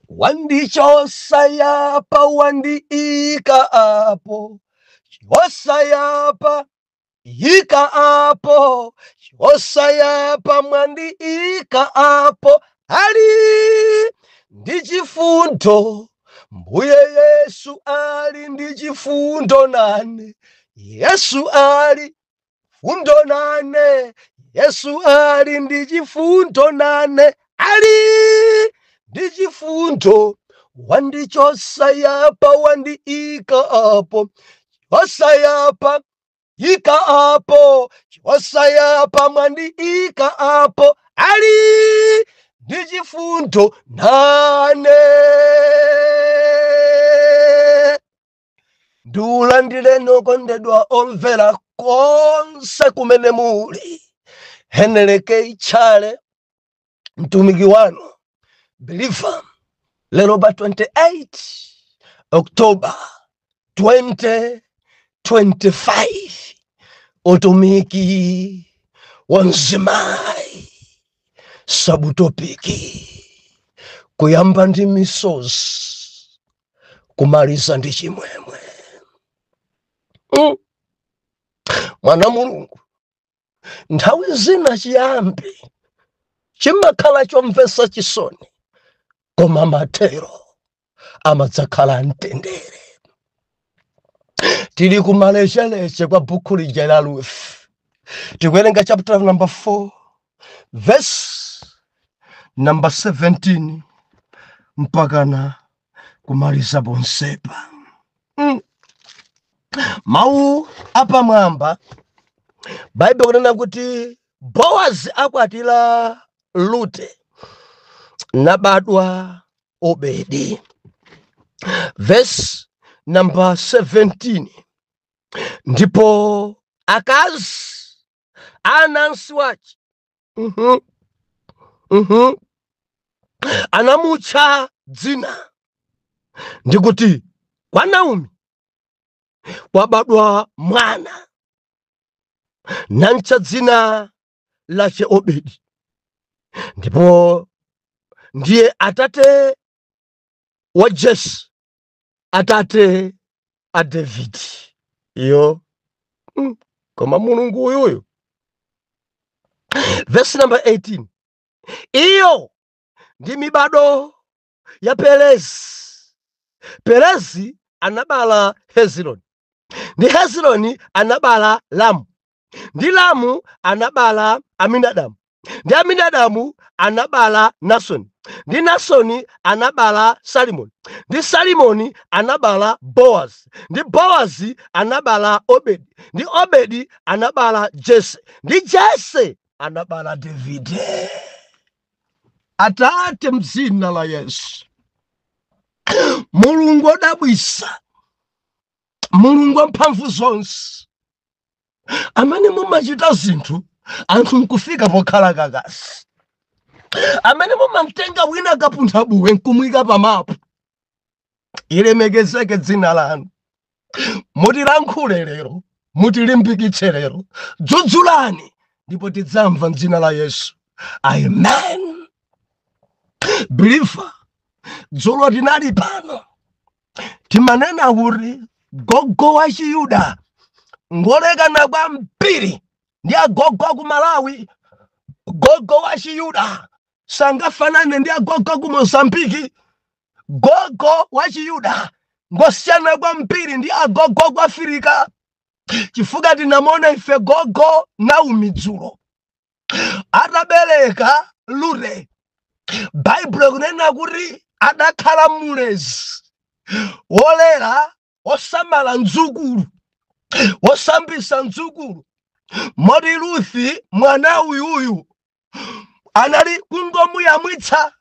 Wandichosa yapa wandiika apo chosa yapa yika apo chosa yapa mwandiika apo ali ndi chifundo mbuye yesu ali ndi chifundo nane yesu ali fundo nane yesu ali ndi chifundo nane ali ndi chifundo wandichosa yapa wandiika apo chosa yapa yika apo chosa yapa mwandiika apo ali ndi chifundo nane ndikulandireni okondedwa omvera konse kumene muli heneleke itchale mtumiki wanu biliva lero pa 28 oktoba 2025 utumiki wa mzimayi sabutopiki kuyamba ndi misozi kumaliza ndi chimwemwe mm. mwana wa mulungu nthawi zina chiyambi chimakhala chomvetsa chisoni koma mathero amadzakhala amtendere tili kumalecheleche kwa bukhu lija la ruth tikuwerenga chapter number 4 vesi namba 17 mpakana kumaliza ponsepa mm. mawu apamwamba baibulo likunena kuti bowazi akwatira rute nabadwa obedi vesi namba 17 ndipo akazi anansi ace anamutcha dzina ndikuti kwa naomi kwabadwa mwana namtcha dzina lace obedi ndipo ndiye atate wa jese atate a Davide iyo mm. koma mulungu uyuyu vesi namba 18 iyo ndi mibado ya Perezi. Perezi anabala Hezironi ndi Hezironi anabala Ramu. ndi Ramu anabala Aminadabu, ndi Aminadabu anabala Nasoni, ndi Nasoni anabala Salimoni, ndi Salimoni anabala Boazi, ndi Boazi anabala Obedi, ndi Obedi anabala Jese, ndi Jese anabala Davide. Atate, mdzina la Yesu, Mulungu odabwisa, Mulungu wa mphamvu zonse, amene mumachita zinthu anthu nkufika pokhala kakasi amene mumamtenga wina kapuntha buwe nkumwika pamapu ilemekezeke dzina lanu mutilankhule lero mutilimbikitse lero dzudzulani ndipo tidzamva mdzina la yesu amen believer dzulo tinali pano timanena kuti gogo wa chiyuda ngolekana kwambiri ndi agogo aku malawi gogo wa chiyuda sangafanane ndi agogo aku mozambiki gogo wa chiyuda ngosiyana kwambiri ndi agogo aku afirika chifukwa tinamona ife gogo Naomi dzulo atabereka Rute baibulo ikunena kuti adakhala mulezi wolera wosamala mdzukulu wosambisa mdzukulu moti Rute mwana uyuyu anali kungomuyamwitsa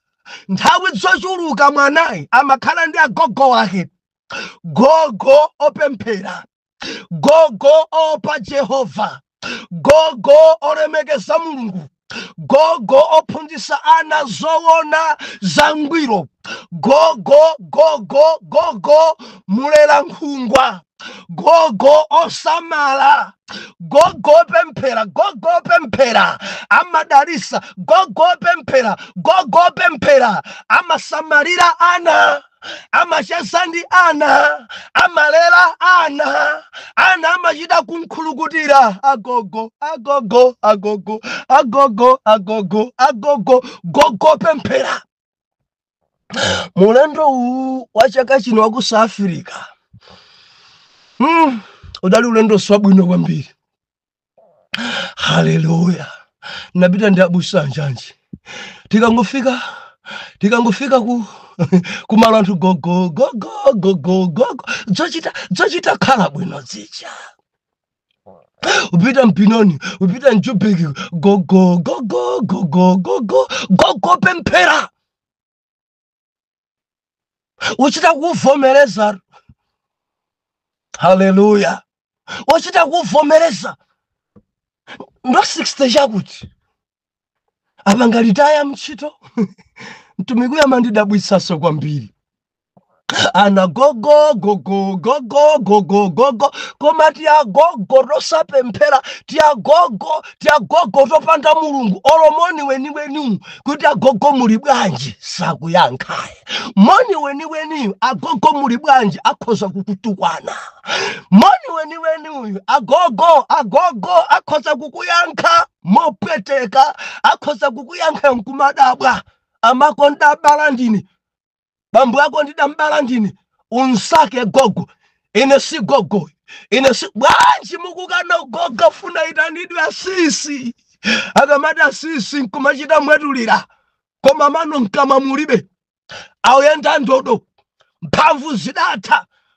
nthawi zochuluka mwanayi amakhala ndi agogo wake gogo opemphera gogo opa jehova gogo olemekeza mulungu gogo ophunzitsa ana zowona zangwiro gogo gogo gogo mulela nkhungwa gogo osamala gogo pemphera gogo pemphera amadalisa gogo pemphera gogo pemphera amasamalira ana amacheza ndi ana amalera ana ana amachita kukhulukutira agogo agogo agogo agogo agogo agogo gogo pemphera mulendo uwu wa chaka chino wa ku south africa mm, udali ulendo wabwino kwambiri haleluya napita ndi abusa anjanji tikangofika tikangofika ku kumalo anthu gogo gogo gogo gogo zochita zochita khala bwino zija upita mBenoni upita mjubeki gogo gogo gogo gogo gogo pemphera uchita kuvomereza haleluya uchita kuvomereza ndo 60 chakuti apa ngalitaya mtchito mtumiki uja amandidabwitsanso kwambiri ana gogo gogo gogo gogo gogo koma tiagogo tosapemphera tiagogo tiagogo topanda mulungu olo moni weniweniwu kuti agogo muli bwanji sakuyankhaye moni weniweniyu agogo muli bwanji akhoza kukutukwana moni weniweniyu agogo agogo akhoza kukuyankha mopweteka akhoza kukuyankha nkumadabwa amako ndabala ndine bambo ako ndidambala ndine usati gogo ine si gogo ine si bwanji mukukana gogo afuna aitanidwe asisi akamati asisi nkumachita mwetulira koma mano mkamwa mulibe akuyenda ndodo mphamvu zidatha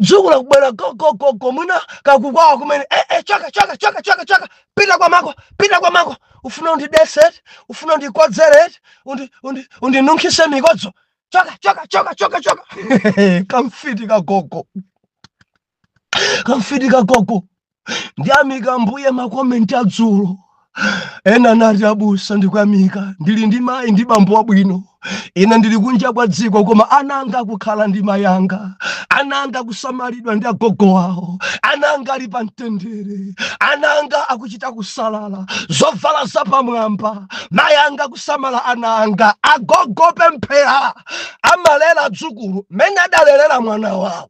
mdzukulu akubwera gogogogo mwina kakukwawa kumene eh, eh, choka choka choka choka choka pita kwa mako pita kwa mako ufuna undidetse eti ufuna undikodzere eti undi, undi, undinunkhise mikodzo chaka chaka chaka chaka chaka kamfiti kagogo kamfiti kagogo ndiyamika ambuye makomenti adzulo ena anati abusa ndikuyamika ndili ndi mayi ndi bambo wabwino ine ndili kunja kwa dziko koma ana anga akukhala ndi mayi anga ana anga akusamalidwa ndi agogo awo ana anga ali pa mtendere ana anga akuchita kusalala zovala zapamwamba mayi anga akusamala ana anga agogo opemphera amalera adzukulu mmene adalelera mwana wawo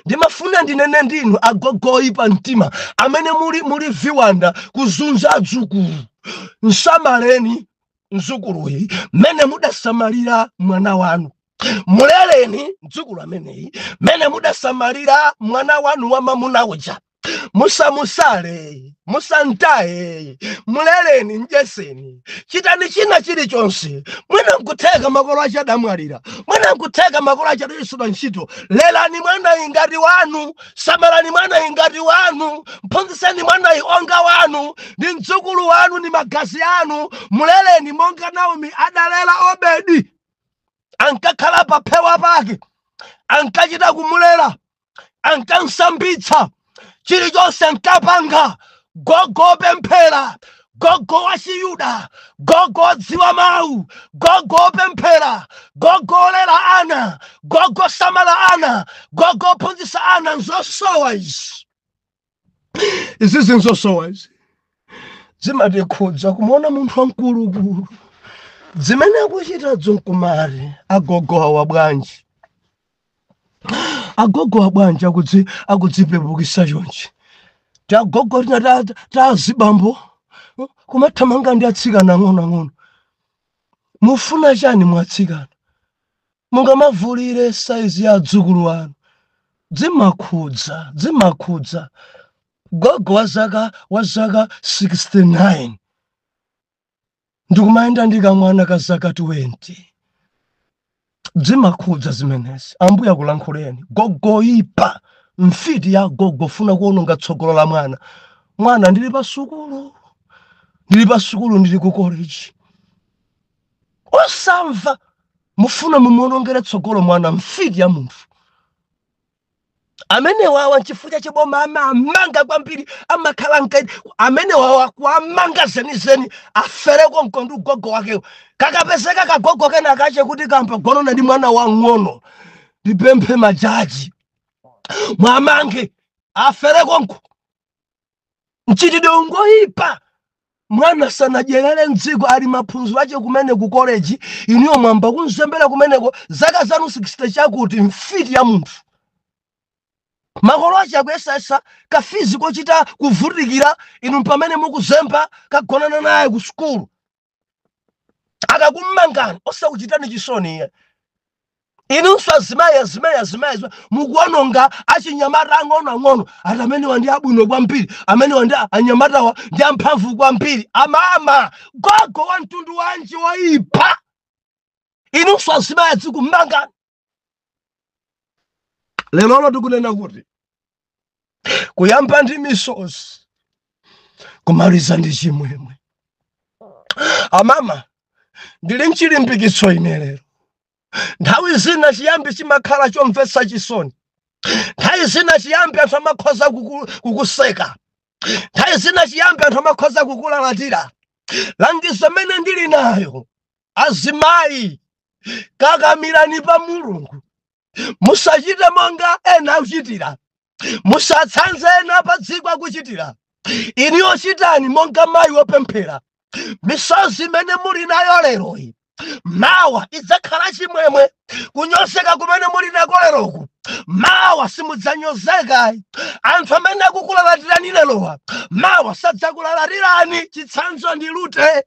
ndimafuna ndinene ndinu agogo oipa mtima amene muli muli viwanda kuzunza adzukulu msamaleni mzukuluyi mmene mudasamalira mwana wanu muleleni mdzukulu ameneyi mmene mudasamalira mwana wanu wa mamuna uja musamusale musamtaye muleleni mdyetseni chitani china chilichonse mwina nkutheka makolo ache adamwalira mwina nkutheka makolo ache adachotsedwa ntchito lelani mwanayi ngati wanu samalani mwanayi ngati wanu mphunzitseni mwanayi onga wanu ndi mdzukulu wanu ndi magazi anu muleleni monga naomi adalela obedi ankakhala paphewa pake ankachita kumulela ankamsambitsa chilichonse ankapanga gogo wopemphera gogo wa chiyuda gogo wodziwa mawu gogo wopemphera gogo olera ana gogo osamala ana gogo ophunzitsa ana nzosowa izi izi zi nzosowa izi zimatikhudza kumuona munthu wamkulukulu zimene akuchita dzo nkumati agogo awa bwanji agogo awa bwanji akudzi- akudzipepukisa chonchi tiagogo tina ta- ta- tazibambo kumathamanga ndi atsikana ang'onoang'ono mufuna chani mwa atsikana mungamavulire saizi ya adzukulu wanu dzimakhudza dzimakhudza gogo wa zaka wa zaka 69 ndikumayenda ndi kamwana ka zaka 20 dzimakhudza zimenezi ambuya kulankhuleni gogo woipa mfiti ya gogo funa kuononga tsogolo la mwana mwana ndili pa sukulu ndili pa sukulu ndili ku college osamva mufuna mumuonongere tsogolo mwana mfiti ya munthu amene wawa nchifukwa chache boma amawamanga kwambiri amakhala nkaidi amene wawa kuwamanga zenizeni afere konko ndi ugogo wakewo kakapezeka kagogo kena kache kuti kampagonana ndi mwana wang'ono ndipemphe majaji mwamange afere konko mchitidwe ndi woyipa mwana asanadyerere mdziko ali m'maphunziro ache kumene ku koleji inuyo mwayamba kumzembera kumeneko zaka zanu 60 chakuti mfiti ya munthu makolo ache akuyesayesa kafizi kochita kuvutikira inu pamene mukuzemba kagonana naye ku sukulu akakum'mangani osakuchitani chisoni iye inunso azimayi azimayi azimayi azimayi, mukuononga achinyamata ang'onoang'ono ati amenewa ndi abwino kwambiri amenewa ndi anyamatawa ndi amphamvu kwambiri amama gogo wa mtundu wanji woipa inunso azimayi azikum'mangani lero tikunena kuti kuyamba ndi misozi kumaliza ndi chimwemwe amama ndili nchilimbikitso ine lero nthawi zina chiyambi chimakhala chomvetsa chisoni nthawi zina chiyambi anthu amakhoza kuku- kukuseka nthawi zina chiyambi anthu amakhoza kukulalatira langizo imene ndili nayo azimayi kakamirani pa mulungu musachite monga ena akuchitira musatsanze ena pa dziko akuchitira inuyo chitani monga mayi wopemphera misozi imene muli nayo leroyi mawa idzakhala chimwemwe kunyozeka kumene muli nako leroku mawa simudzanyozeka anthu amene akukulalatirani lerowa mawa sadzakulalatirani chitsanzo ndi Rute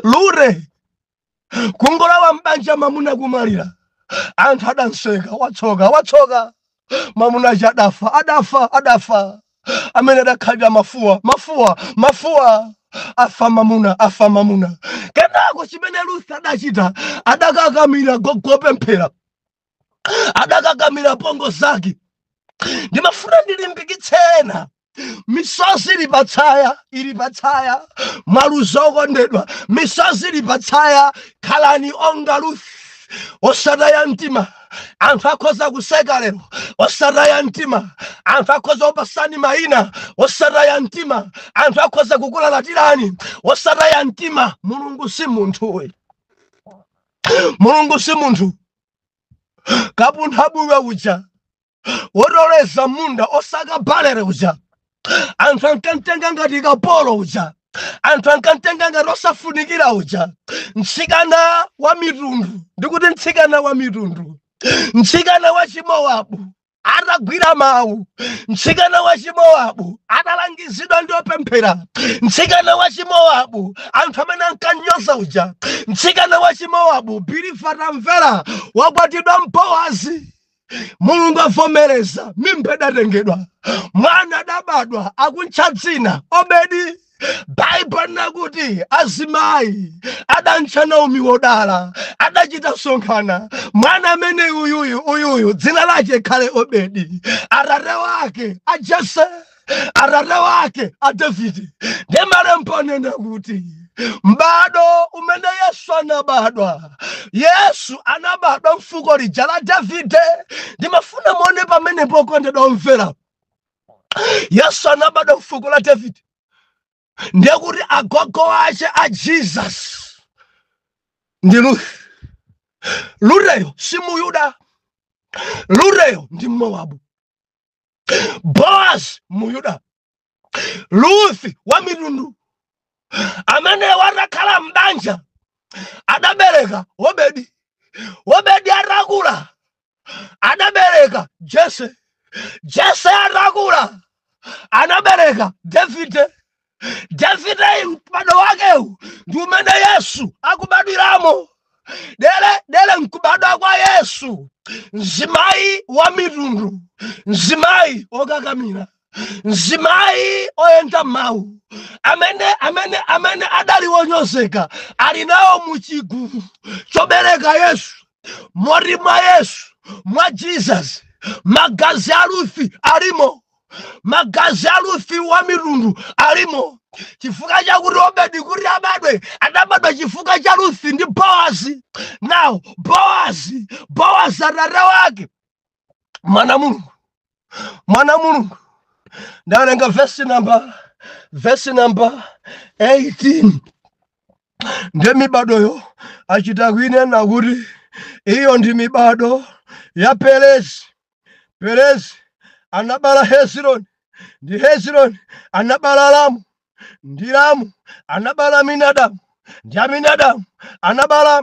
lure kungolawa m'banja mamuna kumalira anthu adanseka watsoka watsoka mamuna aja adafa adafa adafa amene adakhalira mafuwa mafuwa mafuwa afa mamuna afa mamuna kenako chimene lutha adachita adakakamira gogopemphera adakakamira pa apongozi ake ndimafuna ndilimbikitse ena misozi ili patsaya ili patsaya mwa uzo okondedwa misozi ili patsaya khalani monga ruth osataya mtima anthu akhoza kuseka lero osataya mtima anthu akhoza kukupatsani mayina osataya mtima anthu akhoza kukulalatirani osataya mtima mulungu si munthu we mulungu si munthu kapunthabuye uja wotoleza m'munda osaka balere uja anthu ankamtenga ngati kapolo uja anthu ankamtenga ngati osafunikira uja mtsikana wa mitundu ndikuti mtsikana wa mitundu mtsikana wa chimowabu atagwira mawu mtsikana wa chimowabu atalangizidwa ndi opemphera mtsikana wa chimowabu anthu amene ankanyoza uja mtsikana wa chimowabu believer atamvera wakwatiwa ndi boazi mulungu avomereza mimba idatengedwa mwana adabadwa akuntcha dzina obedi baibulo linena kuti azimayi adantcha naomi wodala adachita sonkhana mwana amene uyuyu uyuyu dzina lace likhale obedi atate wake a jese atate wake a davide ndiye malembo anena kuti m'bado umene yesu anabadwa yesu anabadwa mfuko lija la davide ndimafuna muone pamene pokondedwa omvera yesu anabadwa mfuko la davide ndiye kuti agogo ace a jesus ndi lufi luteyo si muyuda luteyo ndi mmowabu boazi muyuda lufi wa mitundu ameneyu atakhala m'banja adabereka obedi obedi atakula anabereka jese jese atakula anabereka davide davide m'bado wakewu ndi umene yesu akubadwiramo dere dere mkubadwa kwa yesu mzimayi wa mitundu mzimayi okakamira mzimayi oyenda m'mawu amene amene amene adali wonyozeka ali nawo muchigulu chobereka yesu mori mwa yesu mwa jesus magazi a lufi alimo magazi a lufi wa mitundu alimo chifukwa chakuti obedi kuti abadwe adabadwa chifukwa cha lufi ndi boazi now boazi boazi atate wake mwana mulungu mwana mulungu ndawerenga vesi namba vesi namba 18 ndiye mibadoyo achita kuinena kuti iyo ndi mibado ya perezi perezi anabala hezironi ndi hezironi anabala lamu ndi lamu anabala aminadamu ndi aminadamu anabala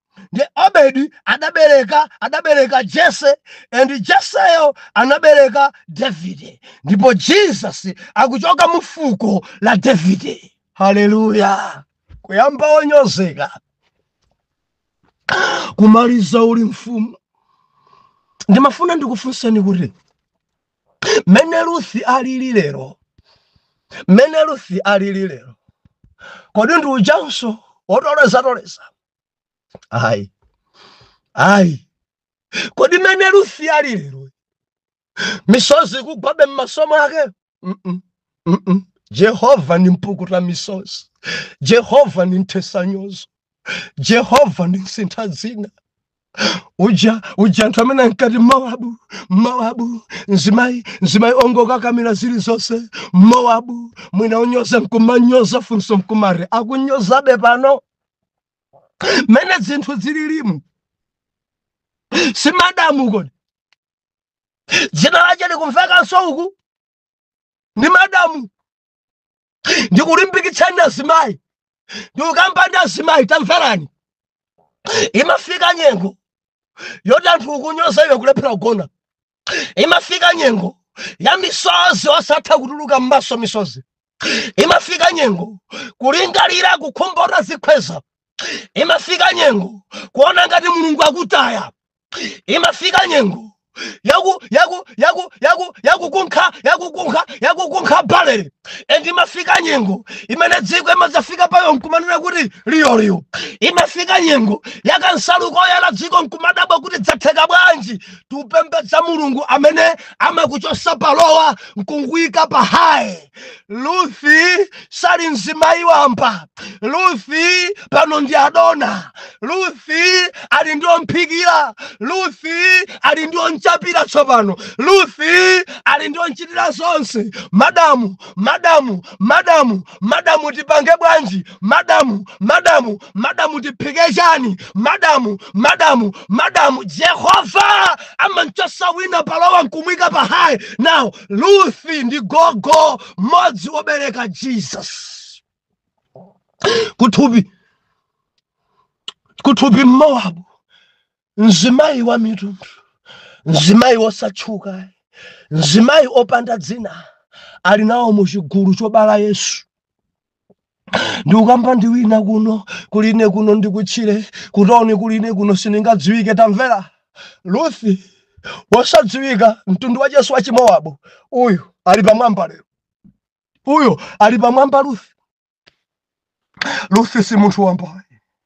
ndi obedi adabereka adabereka jese and jeseyo anabereka davide ndipo jesus akuchoka mu fuko la davide haleluya kuyamba wonyozeka kumaliza uli mfumu ndimafuna ndikufunseni kuti mene ruthi alili lero mene ruthi alili lero kodi ndi ujanso wotolezatoleza ayi ayi kodi mene ruthi ali lero misozi ikugwabe m'maso mwake mm -mm, mm -mm. jehova ni mpukuta misozi jehova ni mthetsanyozo jehova ni msintha dzina uja uja anthu amene ankati mmowabu mmowabu mzimayi mzimayi ongokakamira zilizonse mmowabu mwina unyoza nkumanyoza funso nkumati akunyozabe pano mene zinthu zililimu si madamu kodi dzina lace likumvekanso uku ni madamu ndikulimbikitsani azimayi ndikukamba ndi azimayi tamverani imafika nyengo yoti anthu ukunyoza iwe kulephera kugona imafika nyengo ya misozi osatha kutuluka m'maso misozi imafika nyengo kulingalira kukhumba utazikhweza imafika nyengo kuona ngati mulungu akutaya imafika nyengo yaku yaku yaku yaku yakukunkha yakukunkha yakukunkha balere and imafika nyengo imene dziko imadzafika payo nkumanena kuti liyoliyo imafika nyengo yakansalu koyala dziko nkumadabwa kuti dzatheka bwanji tupembedza mulungu amene amakuchosa pa low nkukuika pa high Luthi sali mzimayi wamba. Luthi pano ndi adona. Luthi ali ndi omphikira. Luthi ali ndi omchapira tsopano. Luthi ali ndi omchitira zonse. Madamu, madamu, madamu, madamu tipange bwanji? Madamu, madamu, madamu tiphike chani? Madamu, madamu, madamu Jehova amanchosa wina pa low nkumuika pa high. Now luthi ndi gogo mmodzi wobereka jesus kuthupi kuthupi mmowabu mzimayi wa mitundu mzimayi wosatchuka mzimayi opanda dzina ali nawo mu chigulu chobala yesu ndikukamba ndi wina kuno kuline kuno ndikutchire kutauni kuline kuno siningadziwike tamvera luthi wosadziwika mtundu wa yesu wa chimowabu uyu ali pamwamba lero uyo ali pamwamba luthi luthi si munthu wambayi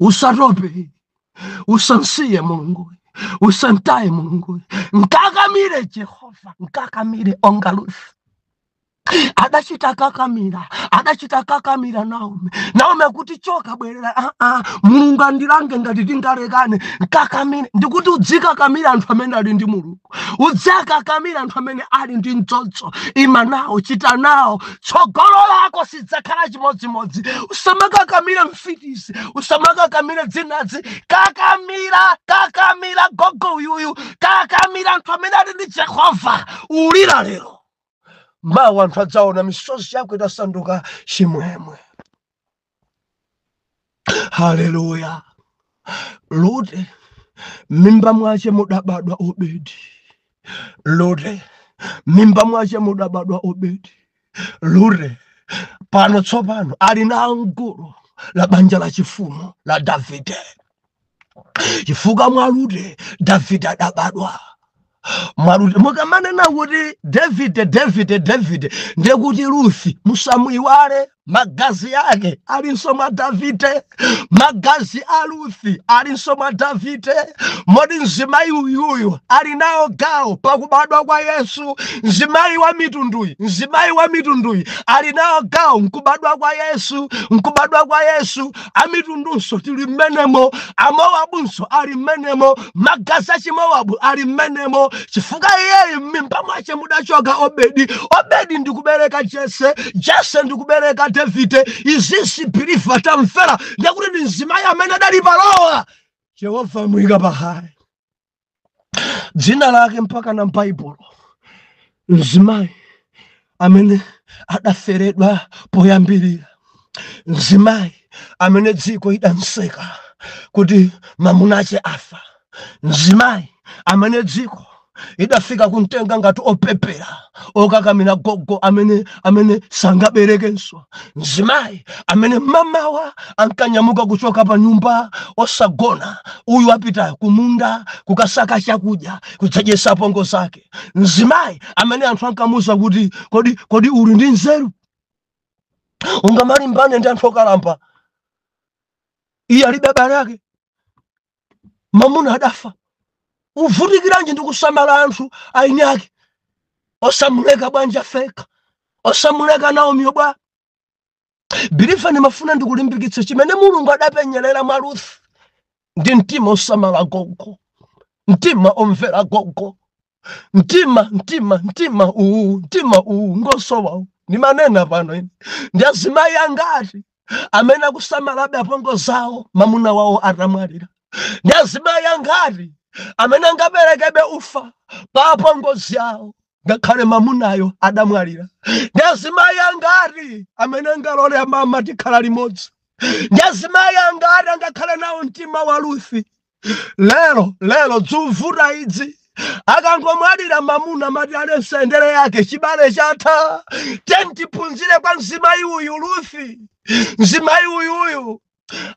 usatope usansiye mulunguyi usantaye mulunguyi nkakamire jehova nkakamire onga ruthi adachita kakamira adachita kakamira naomi naomi akuti choka bwerera aa ah, ah, mulungu andilange ngati tingalekane nkakamire ndikuti udzikakamira anthu amene ali ndi mulungu udzakakamira anthu amene ali ndi mdzodzo ima nawo chita nawo tsogolo lako sidzakhala chimodzimodzi usamakakamira mfitisi usamakakamira dzinadzi kakamira kakamira gogo uyuyu kakamira anthu amene ali ndi jehova ulira lero mawa anthu adzaona misozi yako itasanduka chimwemwe haleluya lute mimba mwache mudabadwa obedi lute mimba mwache mudabadwa obedi lute pano tsopano ali na anguro la banja la chifumu la davide chifukwa mwa rute davide adabadwa mwa rute mukamanena kuti davide davide davide ndekuti ruthi musamuiwale magazi ake alinso mwa davide magazi a ruthi alinso mwa davide moti mzimayi uyuyu ali nawo gawo pakubadwa kwa yesu mzimayi wa mitunduyi mzimayi wa mitunduyi ali nawo gawo mkubadwa kwa yesu mkubadwa kwa yesu amitundunso tili mmenemo amowabunso ali mmenemo magazi achimowabu ali mmenemo chifukwa iyeyu m'mimba mwache mudachoka obedi obedi ndikubereka jese jese ndikubereka davide izizi biliva tamfera ndekuti ndi mzimayi amene adali palowa jehova amuyika pahayi dzina lake mpaka na m'baibulo mzimayi amene adaferedwa poyambirira mzimayi amene dziko idamseka kuti mamunache afa mzimayi amene dziko idafika kumtenga ngati opepera okakamira gogo amene amene sangaberekenso mzimayi amene mamawa ankanyamuka kuchoka pa nyumba osagona uyu apita kumunda kukasaka chakudya kudzadyetsa apongo zake mzimayi amene anthu ankamuza kuti kodi kodi uli ndi nzeru ungamalimbane ndi anthu okalamba iye alibe abale ake mamuna adafa uvutikiranji ndi kusamala anthu aini ake osamuleka bwanji apfeka osamuleka naomi bwa biliva ndimafuna ndikulimbikitse chimene mulungu adapenyerera mwa ruth ndi mtima osamala gogo mtima omvera gogo mtima mtima mtima uwu mtima uwu ngosowawu ndimanena pano ine ndi azimayi angati amene akusamalabe apongo zawo mamuna wawo atamwalira ndi azimayi angati amene angaperekebe ufa pa apongozi awo ngakhale mamunayo adamwalira ndi azimayi angati amene angalole amama tikhala limodzi ndi azimayi angati angakhale nawo mtima wa ruthi lero lero dzuvuta idzi akangomwalira mamuna mati ale nsendere yake chibale chatha tiyeni tiphunzire kwa mzimayi uyu ruth mzimayi uyuyu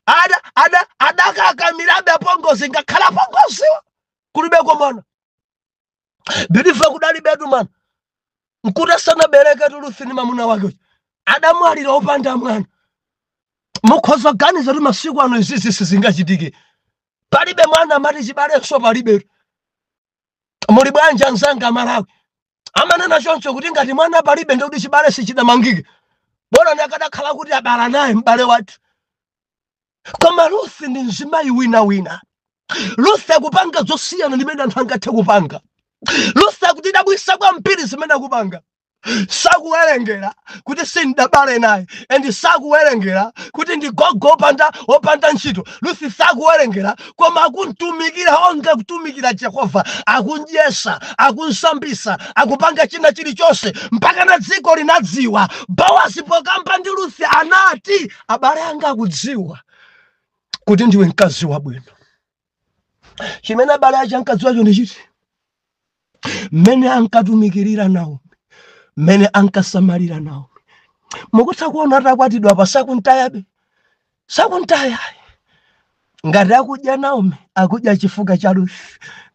ada ada adakakamirabe apongozi ngakhale apongoziwa kudalibeko mwana believer kudalibetu mwana nkuti asanabereke tu ruth ni mamuna wake uja adamwalira opanda mwana mukhoza kuganiza kuti masiku ano izizi sizingachitike palibe mwana amati chibalenso palibe muli bwanji anzanga malawi amanena choncho kuti ngati mwana palibe ndikuti chibale sichidamangike bola akadakhala kuti abala naye m'bale wathu koma ruth ndi mzimayi wina wina ruth akupanga zosiyana ndimene anthu angathe kupanga ruth akutidabwisa kwambiri zimene akupanga sakuwerengera kuti sindabale naye and sakuwerengera kuti ndi gogo opanda opanda ntchito ruth sakuwerengera koma akuntumikira onga kutumikira jehova akundyesa akunsambisa akupanga china chilichonse mpaka na dziko linadziwa bowazi pokamba ndi ruth anati abale anga akudziwa kuti ndiwe mkazi wabwino chimene abale ache ankadziwacho ndi chiti mmene ankatumikirira naomi mmene ankasamalira naomi mukutha kuona atakwatidwa pa sakuntayabe sakuntaya ngati akudya naomi akudya chifukwa cha ruth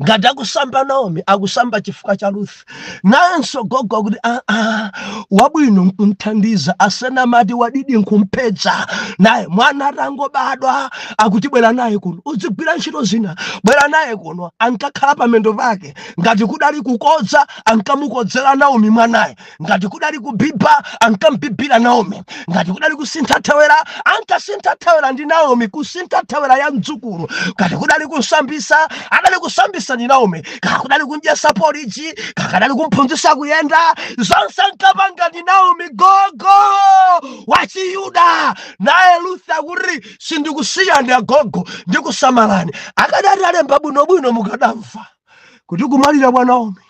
ngati akusamba naomi akusamba chifukwa cha ruth nayenso gogo akuti "Ah, ah, wabwino nkumthandiza asena amati wadidi nkumphedza naye mwana atangobadwa akuti bwera naye kuno udzigwira ntchito zina bwera naye kuno ankakhala pamendo pake ngati kudali kukodza ankamukodzera naomi mwanaye ngati kudali kubhibha ankamubhibhira naomi ngati kudali kusintha thewera ankasintha thewera ndi naomi kusintha thewera ya mdzukulu ngati kudali kusambisa adali kusambisa ndi naomi kaya kudali kumdyesa porridge kaya kudali kumphunzisa kuyenda zonse ankapanga ndi naomi gogo wachiyuda naye ruth akuti sindikusiyani agogo ndikusamalani akadati alemba bwinobwino mukadamva kuti kumwalira kwa naomi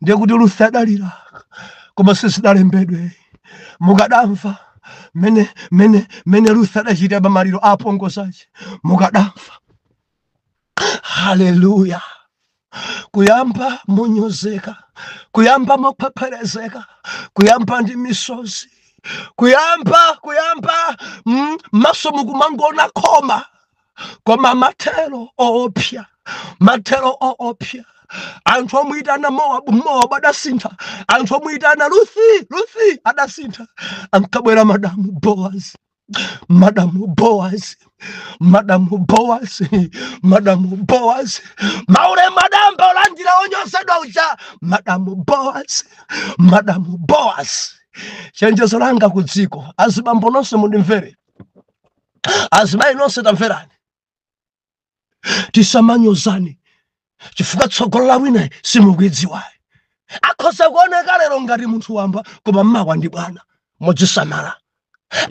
ndiye kuti ruth adalira koma sizidalembedwe mukadamva mene mene mene ruth adachita pamaliro a apongozi ace mukadamva haleluya kuyamba monyozeka kuyamba mophepherezeka kuyamba ndi misozi kuyamba kuyamba mmaso mukumangoona khoma koma mathero oopsya mathero oopsya anthu omuyitana mowabu mowabu adasintha anthu omuyitana luthi luthi adasintha ankabwera madamu boazi madamu boazi madamu boazi madamu boazi maulemu adayamba kulandira onyosedwa uja madamu boazi madamu boazi chenjezo langa ku dziko azibambo nonse mundimvere azimayi nonse tamverani tisamanyozane chifukwa tsogolo la winayi simukulidziwayi akhoza kuoneka lero ngati munthu wamba koma mmawa ndi bwana mudzisamala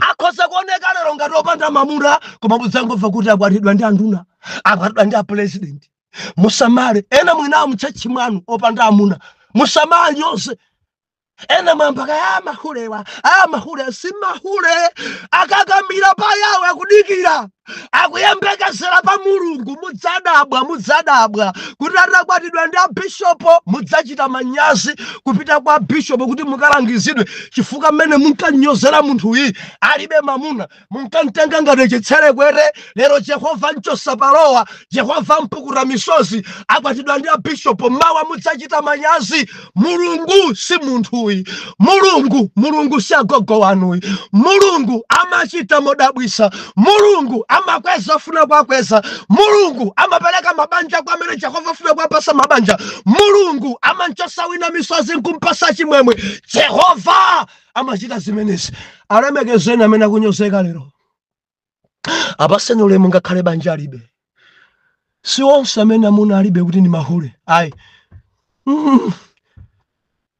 akhoza kuoneka lero ngati opanda mamuna koma mudzangomva kuti akwatidwa ndi anduna akwatidwa ndi apulezidenti musamale ena mwinawo mutchatchi mwanu opanda amuna musamale yonse ena mwawapaka ya mahulewa a mahulewa si mahule akakamira pa yawe akudikira akuyembekezera pa mulungu mudzadabwa mudzadabwa atakwatidwa ndi abishopo mudzachita manyazi kupita kwa bishopo kuti mukalangizidwe chifukwa mmene munkanyozera munthuyi alibe mamuna munkamtenga ngati chitserekwete lero jehova amchosa palowa jehova ampukuta misozi akwatidwa ndi abishopo mawa mudzachita manyazi mulungu si munthuyi mulungu mulungu si agogo wanuyi mulungu amachita modabwisa mulungu amakweza afuna kwakweza mulungu amapereka mabanja kwa amene jehova afuna kwapasa mabanja mulungu amanchosa wina misozi nkumpasa chimwemwe jehova amachita zimenezi alemekezeni amene akunyozeka lero apaseni ulemu ngakhale banja alibe si onse amene amuna alibe kuti ndi mahule ayi mm.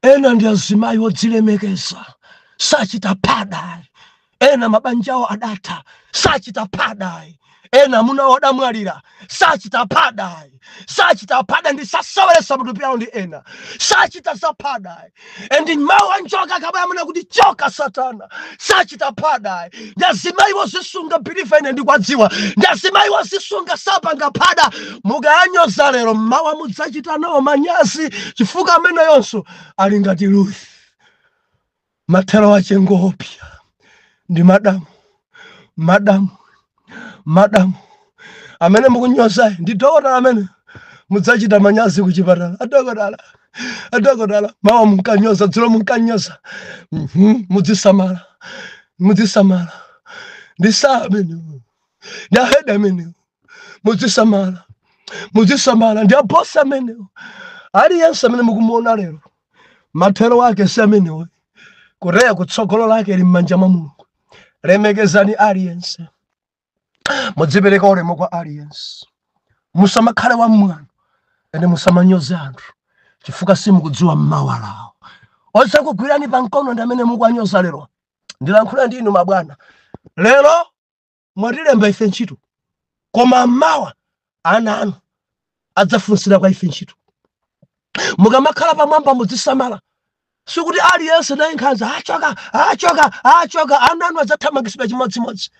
ena ndi azimayi odzilemekeza sachita phadayi ena mabanjawo adatha sachita phadayi ena amuna awo adamwalira sachita phadayi sachita phada ndi saseweretsa matupi awo ndi ena sachita zaphadayi endi mawu a njoka akabwera amanena kuti choka satana sachita phadayi ndi azimayi wozisunga biliva ine ndikwadziwa ndi azimayi wozisunga sapanga phada mukawanyoza lero mmawa mudzachita nawo manyazi chifukwa ameneyonso ali ngati ruth Mathero ache ngoopsya ndi madamu, madamu, madamu. Amene mukunyozayo ndi dokotala amene mudzachita manyazi kuchipatala. Adokotala, adokotala, mawa munkanyoza, dzulo munkanyoza. Mhm, Mudzisamala, mudzisamala. Ndi saa amenewo, ndi ahedi amenewo. Mudzisamala, mudzisamala. Ndi abosi amenewo. Aliyense amene mukumuona lero mathero ake si amenewo kulaya kutsogolo lake li m'manja mwa mulungu lemekezani aliyense mudzipereka ulemu kwa aliyense musamakhale wamwano and musamanyoze anthu chifukwa simukudziwa mmawa lawo odzakugwirani pa mkono ndi amene mukuwanyoza lero ndilankhula ndi inu mabwana lero mwatilemba ife ntchito koma mmawa ana anu adzafunsira kwa ife ntchito mukamakhala pamwamba mudzisamala sikuti aliyense naye nkhanza achoka achoka achoka ana anu adzathamangitsidwa chimodzimodzi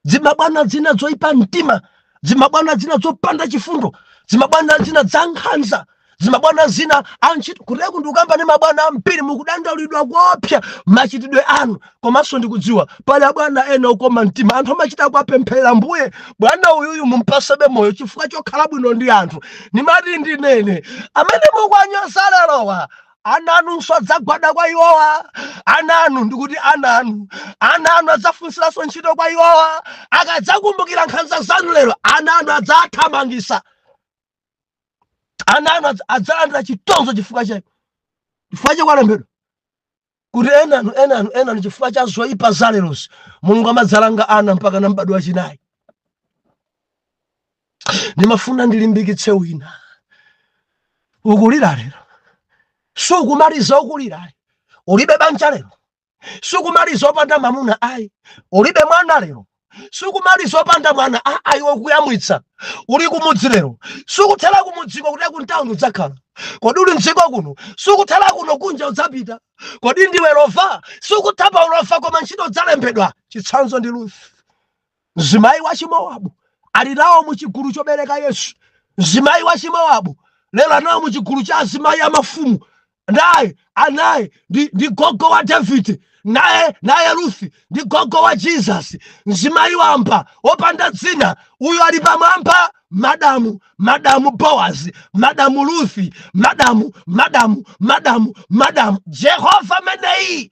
dzimabwana dzina dzoipa mtima dzimabwana dzina dzopanda chifundo dzimabwana dzina dzankhanza zimabwana zina antchito kuteroku ndikukamba ndi mabwana ambiri mukudandaulidwa kuopsa machitidwe anu komanso ndikudziwa pali abwana ena okoma mtima anthu amachita kuwapempherera ambuye bwana uyuyu mumpatsebe moyo chifukwa chokhala bwino ndi anthu ndimati ndinene amene mukuwanyoza lerowa ana anunso adzagwada kwa iwowa ana anu ndikuti ana anu ana anu adzafunsiranso ntchito kwa iwowa akadzakumbukira nkhanza zanu lero ana anu adzathamangisa ana anu adz- adzalandira chitonzo chifukwa cha chifukwa cha kwalembedwa kuti enanu enanu enanu chifukwa cha zoyipa za lerozi mulungu amadzalanga ana mpakana m'badwo wachinayi ndimafuna ndilimbikitse wina ukulira lero sukumaliza ukulira ulibe banja lero sukumaliza opanda mamuna ayi ulibe mwana lero sukumaliza opanda mwana a- ayi wokuyamwitsa uli kumudzi lero sukuthera kumudziko kuti kuntawuni udzakhala kodi uli mdziko kuno sukuthera kuno kunja udzapita kodi ndiwe lova sukuthera pa ulova koma ntchito udzalembedwa chitsanzo ndi ruthi mzimayi wa chimowabu ali nawo mu chigulu chobereka yesu mzimayi wa chimowabu lero ali nawo mu chigulu cha azimayi a mafumu naye anaye ndi, ndi gogo wa davide naye naye ruthi ndi gogo wa jesus mzimayi wamba wopanda dzina uyo ali pamwamba madamu madamu boazi madamu ruthi madamu madamu madamu madamu jehova meneyi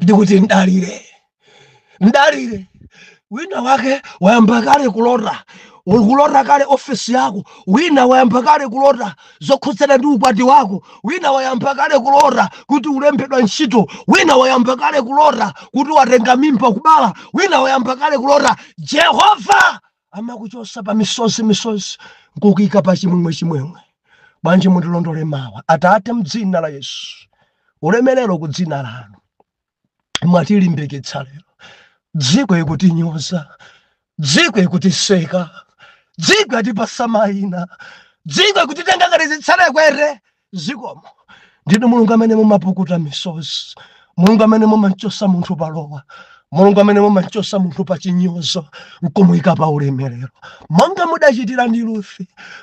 ndikuti mdalire mdalire wina wake wayamba kale kulota kulota kale ofesi yako wina wayamba kale kulota zokhudzana ndi ukwati wako wina wayamba kale kulota kuti ulembedwa ntchito wina wayamba kale kulota kuti watenga mimba kubala wina wayamba kale kulota jehova Amakuchotsa pa misozi misozi nkukuyika pa chimwemwe chimwemwe. Bwanji mundilondole mawa. Atate mdzina la Yesu. Ulemerero ku dzina lanu. Mwatilimbikitsa lero. Dziko ikutinyoza. Dziko ikutiseka. Dziko yatipatsa maina. Dziko ikutitenga ngati zitserekwete. Zikomo. Ndinu Mulungu amene mumapukuta misozi, Mulungu amene mumamchosa munthu palowa, Mulungu amene mumamchosa munthu pa chinyozo nkumuika pa ulemerero, monga mudachitira ndi Ruth,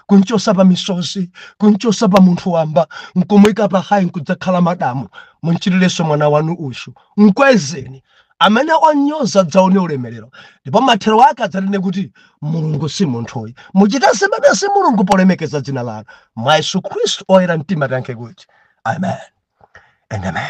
kumchosa pa misozi, kumchosa pa munthu wamba, nkumuika pa hayi nkudzakhala madamu. Munchitirenso mwana wanu uyu, mkwezeni amene onyoza adzaone ulemerero ndipo mathero ake adzanene kuti mulungu si munthuyi muchita zimenezi mulungu polemekeza dzina lanu mwa yesu khristu oyera mtima tiyankhe kuti amen and amen